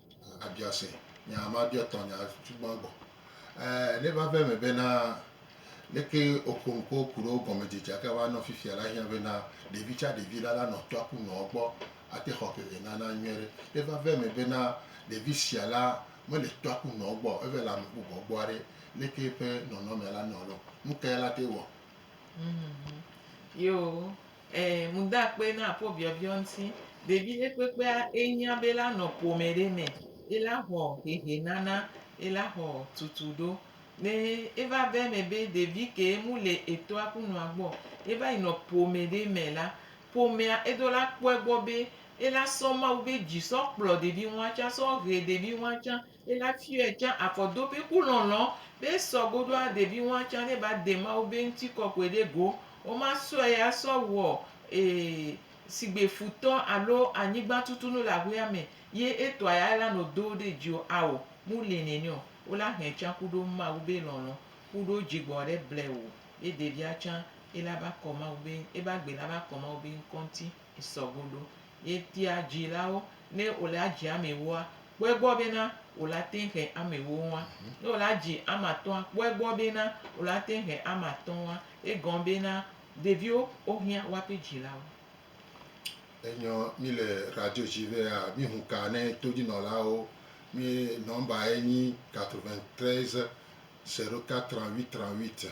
Abiɔ se nya ma biɔ tɔ nya tsugbɔn gbɔ. Ɛɛ, ne va ve me be na leke oƒo nu ko ku ɖe wo gɔme dze dza ke va nɔ fifia la hiã be na ɖevi tsa ɖevi la la nɔ tɔa ku nɔ gbɔ ate xɔ veve nana nyuie ɖe. Ne va ve me be na ɖevi sia la me le tɔa ku nɔ gbɔ eve le ame bubɔ gbɔa ɖe, leke eƒe nɔnɔmea la nɔ lɔ? Nukae la te wɔ? Yo. Ẽ, ŋu da akpe na akpɔ biɔbiɔ ŋti. Ɖevi ɖe kpekpea e nya be ela nɔ ƒome ɖe me, ela xɔ hehe nana, ela xɔ tutu ɖo. Ne e va ve me be ɖevi ke mu le etɔa ku nɔa gbɔ, e va yi nɔ ƒome ɖe me la, ƒomea e ɖo la kpɔe gbɔ be ela sɔ Mawu be dzi sɔ kplɔ ɖevi ŋua tsã, sɔ he ɖevi ŋua tsã. Ye la fiɔɛ tsã akɔ do be ku lɔlɔ be sɔ goɖo a ɖevi ŋua tsã ne ba de Mawu be ŋti kɔkɔɛ ɖe go. Wo ma sɔɛ ya sɔ wɔ e sigbe futɔ alo anyigba tutu nu le ahuea me ye etɔ ya ela no do wo ɖe dzi o. Ao, mu li nɛnɛ o. Wo la hɛ tsã kuɖo Mawu be lɔlɔ kuɖo djigbɔ ɖe blɛ wo ye ɖevia tsã ela va kɔ Mawu be eba gbe la va kɔ Mawu be ŋkɔ ŋti. sɔ go ɖo. Ye tia dzi la wo ne wo le adzi ame woa, kpɔe gbɔ be na wo la te ŋhe ame wo ŋua. Ne wo le adzi ame atɔ̃a, kpɔe gbɔ be na wo la te ŋhe ame atɔ̃ ŋua. Ye gɔn be na ɖeviwo wo hiã woa ƒe dzi la wo. Enyɔ mi le radio dzi be a mi ŋu ka ne to dzi nɔ la wo. Mi nɔmba ye nyi 93 04 38 38.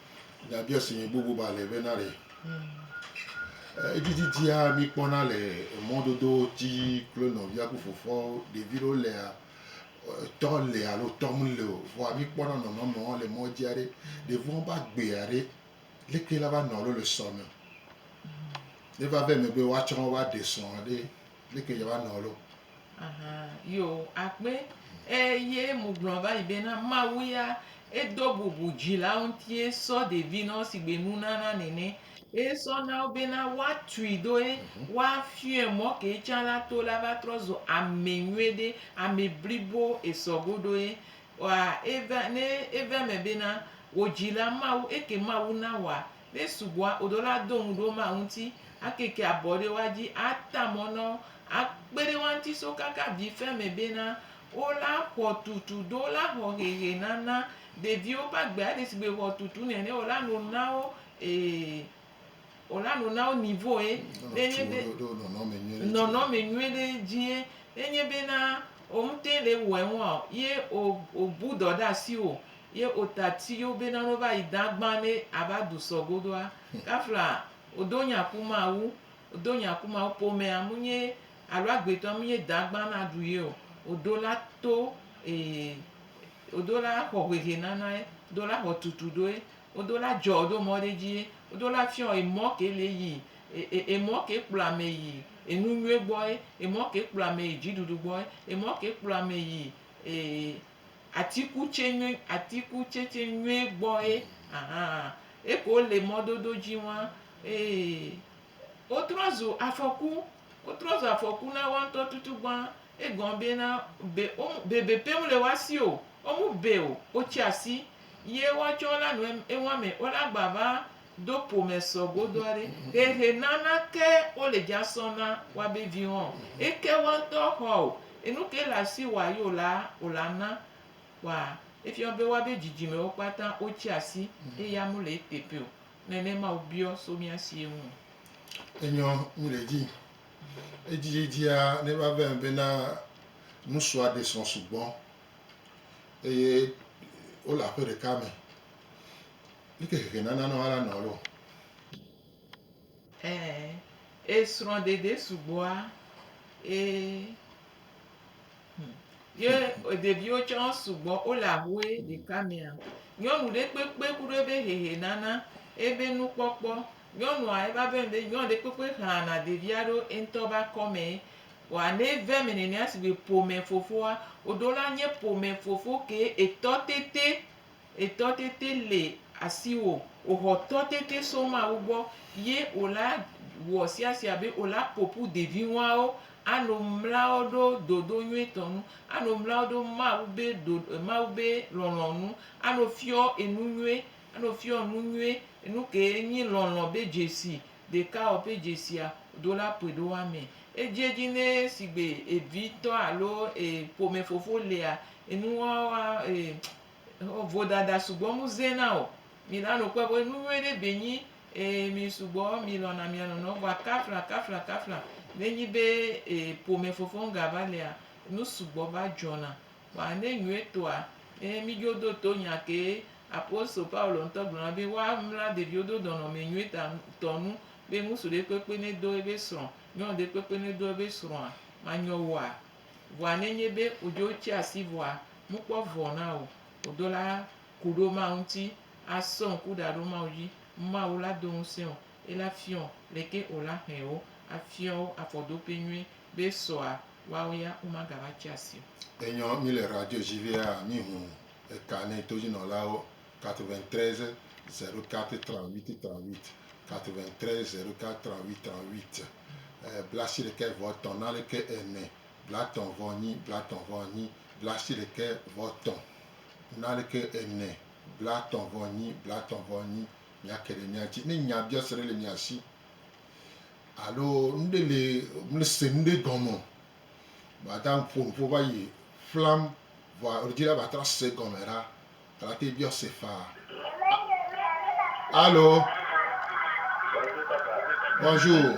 Nyabia si mi bubu ba le be na ɖe edzidzidzia mi kpɔna le mɔdodo dzi kple nɔvia ku fofoawo ɖevi ɖewo lea tɔ le alo tɔ mu le o vɔa mi kpɔna nɔnɔmewo le mɔ dzi aɖe ɖeviwo va gbe aɖe leke la va nɔ alo le sɔ me ne va ve megbe woatsɔ wo va ɖe sɔ aɖe Leke yeava nɔ lo? Ahan, yo akpe. E ye mu gblɔ va yi be na Mawu ya e do bubu dzilawo ŋuti e sɔ ɖevi na wo sigbe nunana nene. E sɔ na wo be na woa tui do e mhm. woa fiɔe mɔ ke can la to la va trɔ zo ame nyuie ɖe, ame blibo e sɔ go ɖo e. Wa e va ne e va me be na wo dzila Mawu eke Mawu na wa. Lé sugbɔa wo ɖo la do ŋu ɖo ma ŋuti a keke abɔ ɖe wa dzi a ta mɔ nɔ wo a kpe ɖe wa ŋti so kaka vi fe me be na wo la xɔ tutu do wo la xɔ hehe nana ɖeviwo ƒe agbe a ɖe si gbe xɔ tutu nɛnɛ wo la no na wo wo la no na wo nivo ye ne nye be nɔnɔme nyuie ɖe dzi ye ne nye be na wo ŋtɛ le wɔe ŋua ye wo bu dɔ ɖe asi wo. Ye ota ti yo be nano va yi dan gban ne a va du sɔ godoa. Kafla o do nya ku Mawu, o do nya ku Mawu pomɛ a mu nye alo agbetɔ a mu nye dan gban na du ye o. O do la to ee o do la xɔ hwehe nana ye, o do la xɔ tutu do ye, o do la jɔ do mɔ ɖe dzi ye, o do la fiɔ emɔ ke le yi e e emɔ ke kplɔ amɛ yi enunyuie gbɔ ye, emɔ ke kplɔ amɛ yi dziɖuɖu gbɔ ye, emɔ ke kplɔ amɛ yi ee. Atikutse nyui, atikutsetse nyuie gbɔ ye ahan. Eke wole mɔdodo dzi wa ee. Wotrɔ zu afɔku, wotrɔ zu afɔku na woa ŋutɔ tutugbã. Egɔme be na be wo bebe pɛ mele woa si o. Wo mu be o. Wotsi asi ye woatsɔ la nu eŋua me. Wola gba va do pomɛ sɔ godo aɖe. Hehe nana ke wo le dja sɔ na wa be vi hɔn. Eke wa ŋtɔ hɔ o. Enu ke le asi wa yi o la, o la na wa efiɔ be wa be djidjime wo kpata wo tsi asi eye ya mu le etepe o. Nɛnɛ ma wo biɔ so mia si ye ŋu. Enyɔ mi le dji. Edjidjia ne va vɛ be na nusua ɖe sɔ sugbɔ eye wo le aƒe ɖeka me. Leke xexe nana nɔ ala nɔ lɔ? Ɛ e srɔ̃ɖeɖe sugbɔa e hm ye ɖeviwo tsã sugbɔ wole ahoe ɖeka mea nyɔnu ɖe kpekpe ku ɖe ebe xexe nana ebe nukpɔkpɔ. Nyɔnua eva be ŋɖe nyɔnu ɖe kpekpe xlana ɖevia ɖo eŋtɔ be akɔme vɔa ne eve eme nenea sigbe ƒome fofoa oɖo la nye ƒome fofo ke etɔ tete. Etɔ tete le asiwò, òxɔ tɔ tete so Mawu gbɔ, ye òla wɔ siasia be òla ƒoƒu deviŋuawo ano mlawo ɖo dodo nyuitɔ nu, ano mlawo ɖo Mawu be ɖo, Mawu be lɔlɔ̃ nu, ano fiɔ enu nyuie, ano fiɔ enu nyuie, enu ke nyi lɔlɔ̃ be dzesi, Ɖeka ɔ ƒe dzesia do la ƒoe ɖo amɛ. Edje dji nɛ sigbe evi tɔ alo e ƒome fofo lea, enuwawa e xɔ vodada sugbɔ mu ze na o. Mi la no kpɔɛ be enu nyuie ɖe be nyi e mi sugbɔ mi lɔna mia nɔnɔ vɔa kafla kafla kafla ne nyi be e ƒome fofo ŋga va lea, nu sugbɔ va dzɔna. Vɔa ne nyuietɔa, ye mi dzo do to nya kee apostol Paulo ŋutɔ gblɔ na be woa mla ɖeviwo do nɔnɔme nyuitɔ tɔ nu be ŋutsu ɖe kpekpe ne do ebe srɔ̃, nyɔnu ɖe kpekpe ne do ebe srɔ̃a, ma nyɔ woa? Vɔa ne nye be o dzo tsi asi vɔa, mu kpɔ vɔ na o, o do la ku ɖo Mawu ŋuti, a sɔ ŋku ɖa ɖo Mawu dzi, Mawu la do ŋusẽ o. Ela fiɔ le ke o la hɛn wo afiɔ wo afɔdope nyui be sɔa woawo ya wo ma gava tsi asi o. Enyɔ mi le radio dji vea mi hu eka nɛ to dji nɔlawo 93 04 38 38 93 04 38 38 blasi ɖekɛ vɔ tɔn naleke ene blatɔn vɔ nyi blatɔn vɔ nyi blasi ɖekɛ vɔ tɔn naleke ene blatɔn vɔ nyi blatɔn vɔ nyi Míake ɖe mía ŋuti. Ne nyabiɔse ɖe le mia si alo nu ɖe le mese nu ɖe gɔme o, mìada nuƒo nuƒo va yi ƒlam vɔa ɣleti la va trɔ ase egɔme ɖa. Ela te biɔ ase faa. Alo. Bonjour.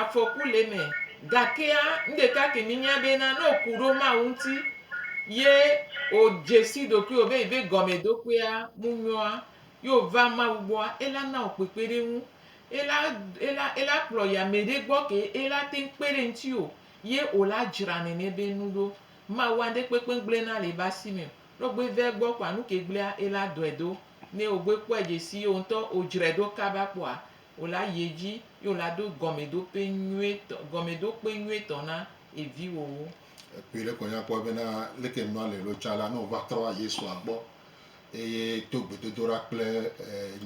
afɔku le eme. Gakea, nu ɖeka ke míenya bena, ne wòku ɖo Mawu ŋuti ye wòdze si ɖokuiwò be yeabe gɔmeɖokpea ŋu nyɔa, ye wòva Mawu gbɔa, ela na wò kpekpeɖeŋu. Ela, ela, ela kplɔ yi ame ɖe gbɔ ke ela te ŋu kpe ɖe ŋutiwò ye wòla dzra nene be nu ɖo. Mawua ŋɖe kpekpe gblẽna le ebe asi me o. Ne wògbe va egbɔ kpɔa, nu ke gblẽa, ela dɔe do. Ne wògbe kpɔe dze si ye wòŋutɔ wòdzrae ɖo kaba kpɔa, Wòla yi edzi ye wòla ɖo gɔmeɖokpe nyuietɔ, gɔmeɖokpe nyuietɔ na eviwòwo. Ekpɔe ɖe kɔ nyakpɔ bena leke nua le lo tsa la, ne wòva trɔ va Yesua gbɔ eye to gbedodoɖa kple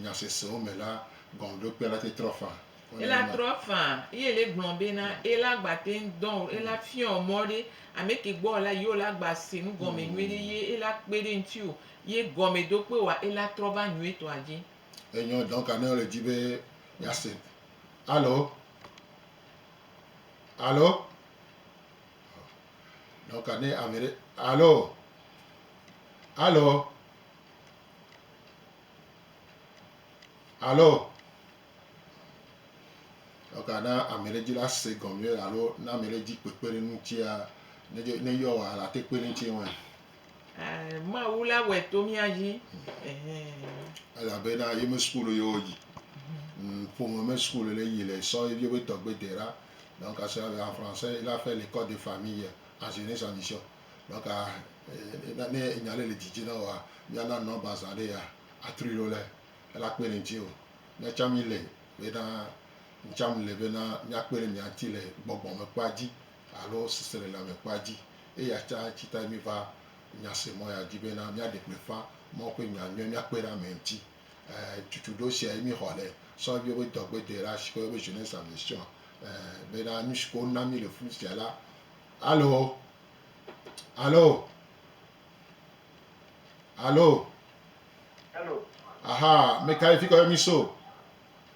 nya sesewo me la, gɔmeɖokpea la te trɔ faa. Ela trɔ faa eye ele gblɔ bena ela gba te ŋu dɔ o. Ela fiɔ mɔ ɖe ameke gbɔ wòla yi wòla gba se nu gɔme nyuiɖe ye ela kpe ɖe eŋuti o ye gɔmeɖokpe wa ela trɔ va nyuietɔa dzi. Enyɔ dɔ ka ne le dzi be miase. Alo? Alo? Dɔ ka ne ame ɖe alo? Alo? Alo? Dɔ ka na ame ɖe dzi la se gɔme alo na ame ɖe dzi kpekpe ɖe ŋutia ne yɔ wɔ la te kpe ɖe ŋuti ŋu. Ɛɛ, Mawu la wɔe to mía dzi. Ɛhɛɛ. Elabena ye me sukulu ye woyi. Ŋ, ƒome me sukulu le yi le sɔ ye be tɔgbe de ɖa. Donc, à cela, en français, il a fait l'ecole de famille en jeunesse en mission. Donc, à, e, ne enya ɖe le didi na wòa, mía na nɔmba zã ɖe yea, a trui ɖo le, e la kpe ɖe ŋuti o. Mía tsã mí le bena, ŋ tsã ŋ le bena mía kpe ɖe mia ŋuti le gbɔgbɔ me kpɔa dzi alo sesele lãme kpɔa dzi. Eya ta tsi tae míva nya se mɔ yeadi bena míaɖe gbeƒã Mawu ƒe nya nyuie míakpe ɖe ame ŋuti. Ẽ, tutuɖo siae míexɔ le sɔ Bible ƒe dɔgbede la si ke woyɔna be Jeunesse en Mission, ẽ, bena nu si ke wona mí le fi sia la, Alo! Alo! Alo! Alo! Aha, mekae fi ke woyɔ mí so?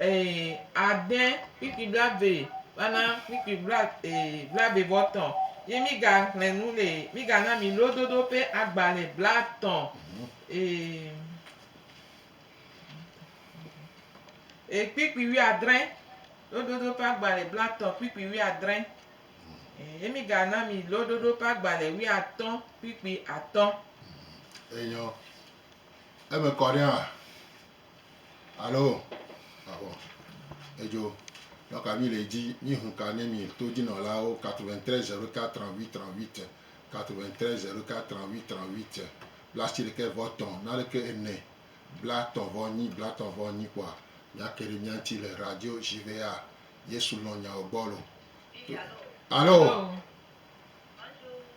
Ee, ade kpikpi blaeve va na kpikpi bla, ee, blaeve vɔ tɔ ye mi ga xlẽ nu le, mi ga na mi lododo ƒe agbalẽ blatɔ. Ee, ee, kpikpi wuiadre, lododo ƒe agbalẽ blatɔ, kpikpi wuiadre. Ee, ye mi ga na mi lododo ƒe agbalẽ wuiatɔ, kpikpi atɔ. Enyɔ. Eme kɔ ɖe hã, Alo, Avɔ, edzo, nɔ kavi le edzi, mí hun ka ne mí to djinɔlawo 93 04 38 38 93 04 38 38 blasi ɖekɛ vɔ tɔ naɖekɛ ene bla tɔ vɔ nyi bla tɔ vɔ nyi kpɔa mía ke ɖe mía ŋti le radio jvea yesu lɔn nyao gbɔ lo to Alo,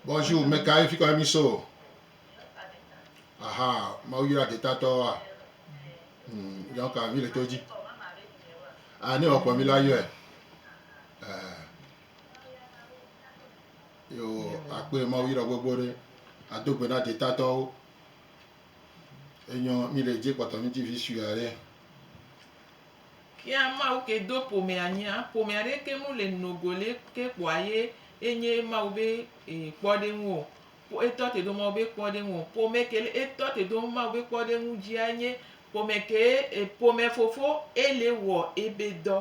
Bonjour, meka ye fikɔ ye mí so? Aha, Mawu yra detatɔwoa? Hmm, donc ah, mi le to dzi. Ah, ne wòakpɔ mi la yɔe. Eh. Yo, akpɔe ah, Mawu yra gbogbo ɖe. Ado gbe na detatɔwo. Enyɔ mi le dzi kpɔtɔ mi dzi vi sue aɖe. Kia Mawu ke do ƒomea nyia, ƒome aɖeke mu le nogo le ke kpɔa ye enye Mawu be eh, kpɔɖeŋu o. Ko etɔ te do ma wobe kpɔ ɖe ŋuɔ? Ƒome ke le etɔ te do ma wobe kpɔ ɖe ŋu dzia nye ƒome ke ƒome fofo ele wɔ ebe dɔ.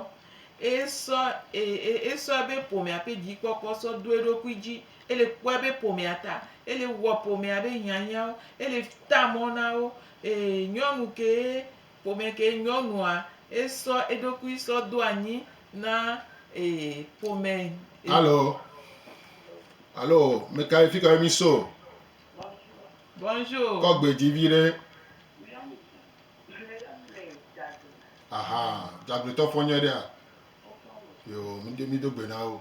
Esɔ esɔ ebe ƒomea ƒe dzikpɔkpɔ sɔ do eɖokui dzi. Ele kpɔ ebe ƒomea ta. Ele wɔ ƒomea be hiahiãwo. Ele ta mɔ na wo. Nyɔnu ke. Ƒomɛ ke nyɔnua esɔ eɖokui sɔ do anyi na e ƒomɛ. Alo, alo mekae fikae mi so? Bonjour. Kɔ gbe dzi vi ɖe. Aha, dzagbetɔ fɔ nyɔe ɖea? Yo, mi do gbe na wo.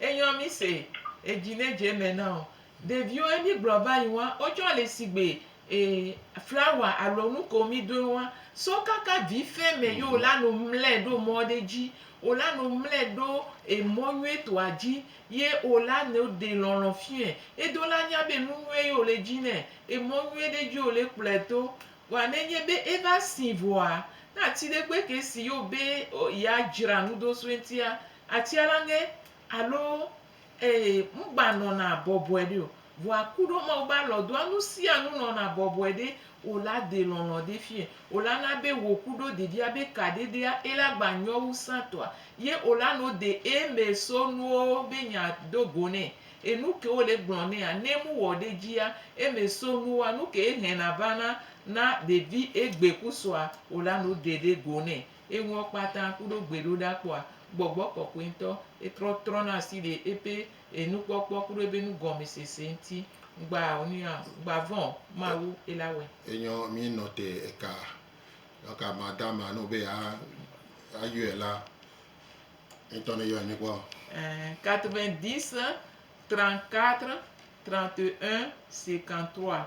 Enyɔ mí se edzi ne dze me na o. Ɖeviwo ye mí gblɔ va yi ŋua, wo tsɔ le sigbe e flawa alo nu ko mí doe ŋua, so kaka vi fe me ye wo la nu mlɛ ɖo mɔ ɖe dzi. Wo la nu mlɛ ɖo emɔ nyuie tɔa dzi ye wo la nu ɖe lɔlɔ fiɔɛ. Edo la nya be nu nyuie ye wo le dzi nɛ. Emɔ nyuie ɖe dzi wo le kplɔɛ to. Vɔa ne nye be eva si vɔa, ne ati ɖe gbe ke si ye wo be ya dzra nu ɖo so eŋutia, Atia la ŋe alo ee ŋgba nɔna bɔbɔe ɖe o. Vɔa ku ɖo Mawu be alɔ doa nusianu nɔna bɔbɔe ɖe o la de lɔlɔ̃ ɖe fiɛ o la na be wò ku ɖo ɖeɖia be kaɖeɖea e la gba nyɔ wu sãtɔa ye o la no de e mɛ so nuwo be nya do go nɛ. Enu ke wo le gblɔ nɛa ne mu wɔ ɖe dzia e mɛ so nuwoa nuke e hɛna vana na ɖevi e gbe ku sɔa o la no de ɖe go nɛ. Eŋuɔ kpata kuɖo gbeɖoɖakpɔa, gbɔgbɔ kɔkɔɛ ŋtɔ etrɔ trɔna asi ɖe ebe enukpɔkpɔ kuɖo ebe nugɔnmɛsese ŋti. Ŋgba nuya o, ŋgba vɔn o, Mawu ela wɛ. Enyɔ mi nɔ te eka eka ma da ma no be a a yɔɛ la, eŋtɔ ne yɔɛ mi kpɔ. Ɛɛ, 90 34 31 53.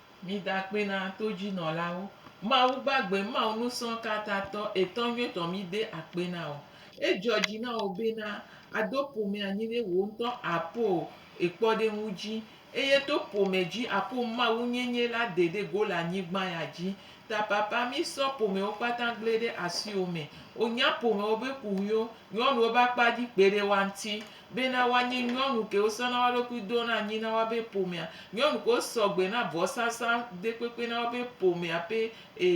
Mida akpe na todzinɔlawo. Mawu gbagbe, Mawu nusrɔ̃katatɔ, etɔ nyuitɔ, mide akpe na wò. Edzɔ dzi na wò bena àdo ƒome anyi ɖe wò ŋutɔ àpo ekpɔɖeŋu dzi, eye to ƒome dzi àpo mawunyenye la de ɖe go le anyigba ya dzi. Ta Papa, mísɔ ƒomewo kpata gblẽ ɖe asiwò me. Wò nya ƒomewo be kuɣiwo, nyɔnuwo be akpa dzi kpeɖewoa ŋuti. Bena woanye nyɔnu kewo sɔna wo ɖokui dona anyi na woabe ƒomea, nyɔnu kewo sɔgbe na vɔsasa ɖekpekpe na woabe ƒomea ƒe e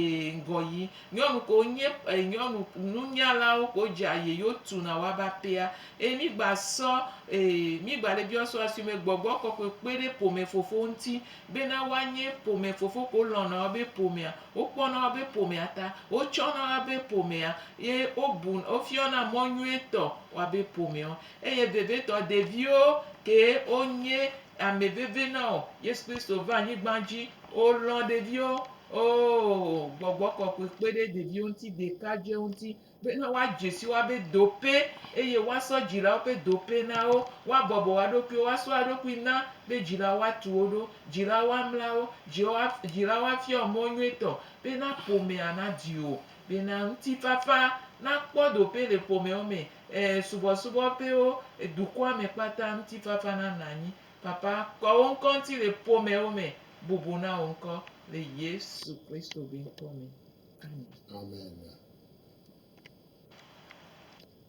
ŋgɔyi, nyɔnu kewo nye e nyɔnu nunyalawo kewo dze aye yewo tuna woabe aƒea. Eye mi gba sɔ e mi gba le biɔ sɔ asime gbɔgbɔ kɔkɔe kpe ɖe ƒome fofowo ŋuti bena woanye ƒome fofo kewo lɔ̃na woabe ƒomea, wokpɔna woabe ƒomea ta, wotsɔna woabe ƒomea ye wobu wofiɔna mɔ nyuietɔ Woabe ƒomeɔ. Eye vevitɔ ɖeviwo kee wonye ame veve na wò. Yesu Kristo va anyigban dzi, wòlɔ̃ ɖeviwo. Oo, Gbɔgbɔ Kɔkɔe kpe ɖe ɖeviwo ŋuti ɖekadze ŋuti bena woadze si woabe dope eye woasɔ dzilawo ƒe dope na wo. Woabɔbɔ woa ɖokuiwo, woasɔ woa ɖokui na be dzilawo woatu wo ɖo, dzilawo woamla wo, dzilawo woafiɔ wo mɔ nyuitɔ bena ƒomea nadi wo. Bena ŋutifafa nakpɔ ɖoƒe le ƒomewo me, e, subɔsubɔ ƒewo, e, dukɔa me kpata ŋutifafa nanɔ anyi. Papa, kɔ wò ŋkɔ ŋuti le ƒomewo me, bubu na wò ŋkɔ le Yesu Kristo be ŋkɔ me. Amen. Amen.